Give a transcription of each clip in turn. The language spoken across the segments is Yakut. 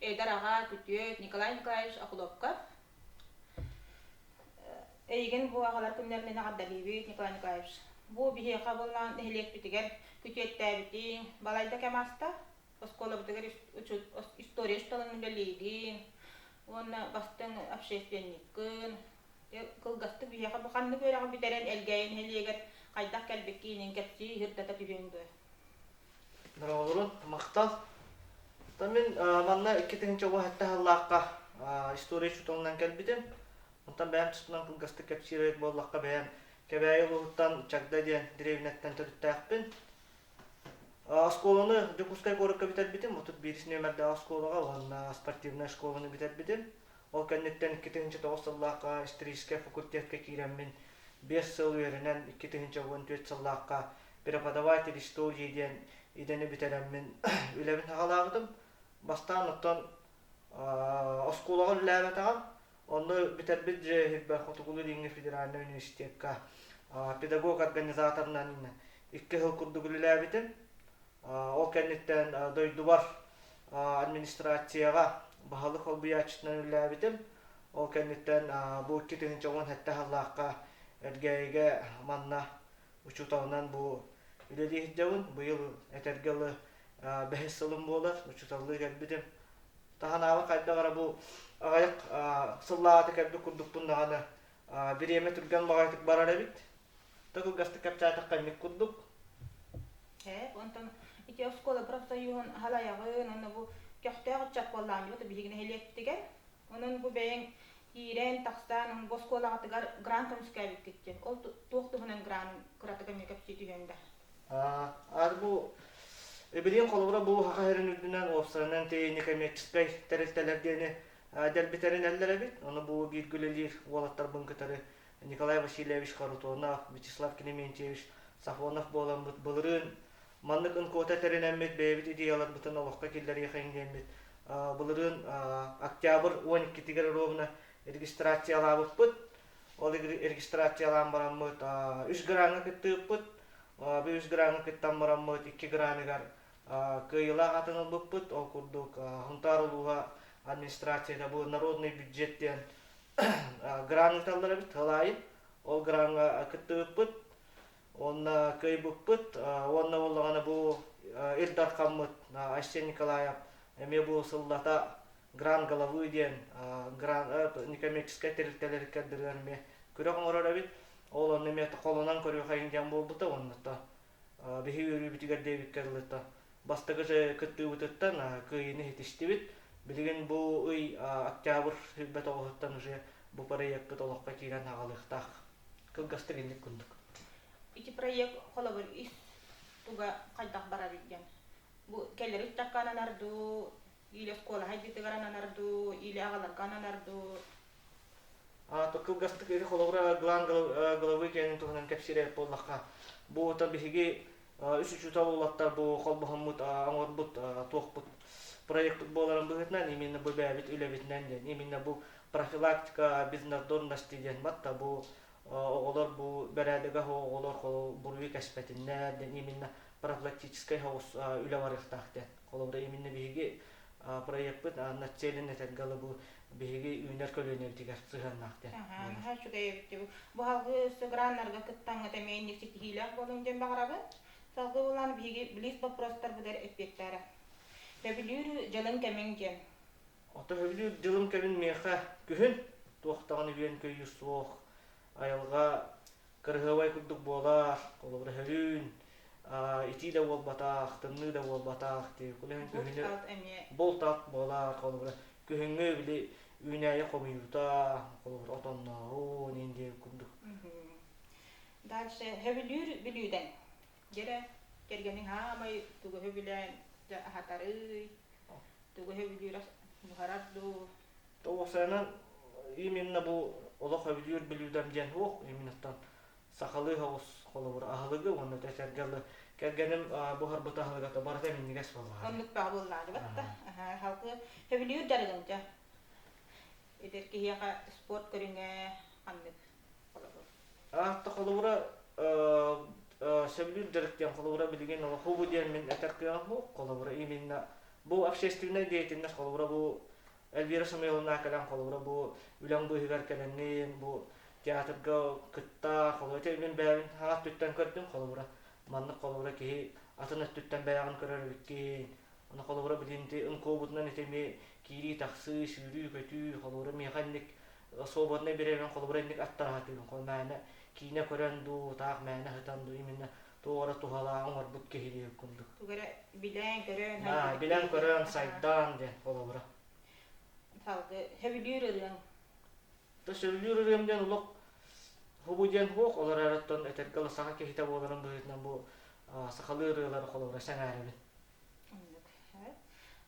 Эдэр аҕа, күтүөт Николай Николаевич Окулопков. Эйигин бу аҕалар күннэрин аҕардалыыбыт, Николай Николаевич. Бу биһиэхэ буллаан нэһилиэкпитигэр күтүөттээбитиҥ, балайда кэм ааста. Оскуолабытыгар история учууталын үлэлиигин уонна бастыҥ общественниккын. Кылгастык биһиэхэ бу ханнык үөрэҕи бүтэрэн Элгээйи нэһилиэгэр хайдах кэлбиккиниин кэпсии, ыһырдата түһүөҥ дуо? Бороҕолурун махтал. То мин манна икки тыһыынча оҕо сэттэ сыллаахха история учууталынан кэлбитим. Оттон бэйэм туспунан кылгастык кэпсиир буоллахха, бэйэм Кэбээйи улууһуттан Чагда диэн дэриэбинэттэн төрүттээхпин. Оскуоланы Дьокуускай куоракка бүтэрбитим. Отут биирис нүөмэрдээх оскуолаҕа уонна спортивнай оскуоланы бүтэрбитим. Ол кэнниттэн икки тыһыынча тоҕус сыллаахха историческай факультетка киирэммин биэс сыл үөрэнэн икки тыһыынча уон түөрт сыллаахха преподаватель что дии диэн идэни бүтэрэммин үлэбин саҕалаабытым бастаан оттон оскуолаҕа үлэлээбэтэҕим онно бүтэрбит дьиэбэр хотугулуу дииҥҥэ федеральнай университекка педагог организаторынан икки сыл курдук үлэлээбитим ол кэнниттэн дойдубар администрацияҕа баһылык солбуйааччытынан үлэлээбитим ол кэнниттэн бу икки тыһыынча уон сэттэ сыллаахха эргээйигэ манна учууталынан бу үлэлиһэрдэбин. Быйыл этэргэ ылы бэһис сылым буолар, учууталлыы кэлбитим. Таһынааҕы хайдах эрэ бу аҕайах сыллааҕыта кэлбит курдукпун даҕаны бириэмэ түргэн баҕайытык барар эбит. Да кылгастык кэпчээтэххэ эмик курдук. Ээ, онтон ити оскуола профсоюһун халаяҕын, онно бу көхтөөх ыччат буоллаамдыбыт биһиги нэһилиэкпитигэр. Онон бу бэйэҥ Киирэн-тахсан, боскуолаҕытыгар грант көмүскээбиккит диэн. Ол туох туһунан грант кыратык эмиэ кэпсии түһүөҥ да. Ар бу Эбириэн холобура бу Хаха сирин үрдүнэн уопсайынан тиэйини коммерческай тэрилтэлэр диэни дэлбитэринэллэр эбит. Ону бу бииргэ үлэлиир уолаттарбын кытары Николай Васильевич Харутонов, Вячеслав Клементьевич Сафонов буолан былырыын Маннык НКОТА тэринэммит, бэйэбит идеяларбытын олоххо киллэриэхэ иҥниэммит. Былырыын октябрь уон иккитигэр ровно регистрациялаабыппыт. Ол регистрациялаан бараммыт үс граҥҥа кыттыыппыт. Бу үс граҥҥа кыттан бараммыт икки граныгар кыайыылаах атын ылбыппыт. Ол курдук Хунтаар улууһа администрацията бу народный бюджет диэн грант ыыталлар эбит. Ол аайы ол граҥҥа кыттыбыппыт. уонна кыайбыппыт уонна буоллаҕына бу Ил Дархаммыт Айсен Николаев эмиэ бу сыллата гран головы диэн гран некоммерческай тэрилтэлэргэ дырыан эмиэ күрэх оҥорор эбит ол онно эмиэ холонон көрүөхэйин диэн буолбута уонна биһи үөрүүбүтүгэр диэбиккэ дылыта бастакы кыттыыбытыттан кыайыыны иһитистибит билигин бу ый октябрь сүүрбэ тоҕуһуттан уже бу проекпыт олоххо киирэн аҕалыахтаах кылгастык инник курдук ити проект холобур ис туга хайдах барарый диэн бу кэлэр устакка ананардуу или оскуола хайдытыгар ананардуу или аҕаларга ананардуу то кылгастык ити холобура главы киэнин туһунан кэпсиирэ буоллахха бу ото биһиги үс учуутал уолаттар бу холбоһоммут оҥорбут туохпут проектпыт буоларын быһыытынан именно бу бэйэбит үлэбитинэн диэн именно бу профилактика безнадзорности диэн батта бу оҕолор бу бэрээдэгэ оҕолор буруйу кэспэтиннэр диэн именно профилактическай хаҕыс үлэ барыахтаах диэн Холобура, именно биһиги проекпыт начален этэргэ бу биһиги үүнэр көлүөнэбитигэр сыһыаннаах диэн. Аха, үчүгэй эбитти. Бу халгы өссө граннарга кыттаҥҥыта эмиэ инник ситиһиилээх буолуҥ диэн баҕарабын. Салгы булан биһиги близ боппуруостарбытыгар эппиэттээтэ. Төбүлүүрү дьылын кэмиҥ диэн. Ото төбүлүүр дьылын кэмин миэхэ күһүн туохтаҕын үһүөн көйүүр суох. Айылҕа кыраһыабай курдук буолар холобура һөрүүн итии да буолбатах тымныы да буолбатах кулиһын күһүнү булт ат буолар холобура күһүҥҥү били үүнээйи хомуйуута холобура отонноорун индия курдук дальше һөбүлүүр бүлүүдэн Дьэ эрэ, кэргэниҥ хаамай тугу сөбүлээн аһатарый, тугу сөбүлүүрэ буһарар дуу? Тоҕусанан именно бу олох өбүлүүр бүлүүдэм диэн суох именно сахалыы соҕус холобур аһылыгы уонна өтө этэргэ дылы кэргэним буһарбыт аһылыгата барыта минньигэс буоллаҕа. Оннук баҕа буоллаҕа да, халкы сөбүлүүр дарыгын дьэ. Эдэр киһиэхэ спорт көрүҥэ ханнык холобур? Аахта холобура сөбүлүүр дьарык диэн холобура билигин олохубу диэн мин этэр кыаҕым бу холобура именно бу общественнай деятельность холобура бу Эльвира Самойловна кэлэн холобура бу үлэҥ быыһыгар кэлэнниин бу театрга кытта холобура мин бэйэбин хаҕа өттүттэн көрдүм холобура маннык холобура киһи атын өттүттэн бэйэҕин көрөр эбит киһи Аны холобура билинти ынкобутунан итеми киирии тахсыы, сүүрүү-көтүү, холобура миэхэнник особотна беребен холобуренник аттаратыын хо мээнэ киинэ көрөн дуу таах мээнэ хытан дуу именно туора туһалаан оҥорбут киһилиир курдук тугу эрэ билэн көрөн на билэн көрөн сайдаан диэн холобура салгы сөбүлүүр ырыаң Да сөбүлүүр ырыам диэн олох хубу диэн хуох, олор эрэттон этэргэ оло саха киһитэ буоларын быһыытынан бу сахалыы ырыалары холобура сэҥээрэбин.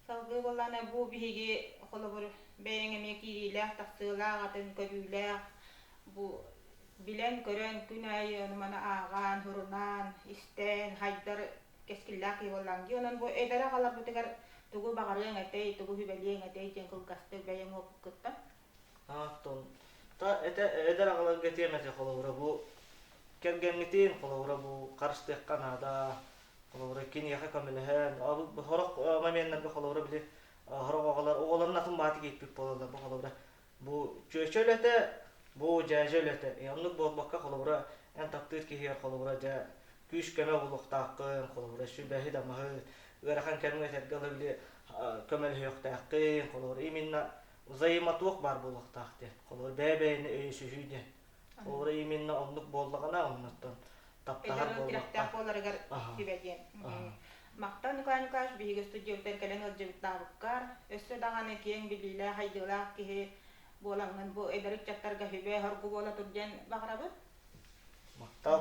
Салгыы боллаана бу биһиги холобур бэйэҥ эмиэ киириилээх, тахсыылаах, атын көрүүлээх бу билэн, көрөн, күн аайы ону маны ааҕаан, сурунаан, истээн, хайдар кэскиллээх киһи буоллаҥ дии. Онон бу эдэр аҕаларбытыгар тугу баҕарыаҥ этэй, тугу сүбэлиэҥ этэй диэн кылгастык бэйэҥ уопуккыттан Аахтын. Та этэ эдэр аҕаларга этиэм этэ холобура бу кэргэҥҥитин холобура бу харыстыахха наада холобура киниэхэ көмөлөһөн сорох моменнарга холобура били сорох оҕолор оҕолорун атын баати кииппит буолаллар бу холобура бу чүөчө үлэтэ бу дьээдьэ үлэтэ оннук буолбакка холобура эн таптыыр киһигэр холобура дьэ күүс-көмө булуохтааххын холобура сүбэһит-амаһыт ыарахан кэмҥэ этэргэ ыла били көмөлөһүөхтээххин холобура именно взаимотуох баар буолуохтаах диэн. Холобур, бэйэ-бэйэни өйөсүһүү диэн. Ол именно оннук буоллаҕына, оннуттан таптаһар буоллахтаах. буоларыгар сүбэ диэн. Махтал Николай Николаевич биһиги студиябыттан кэлэн ыалдьыбыттаабыккар, өссө даҕаны киэҥ билиилээх-айдыылаах киһи буолаҥҥын бу эдэр ыччаттарга сүбэ-соргу буола тур диэн баҕарабын. Махтал.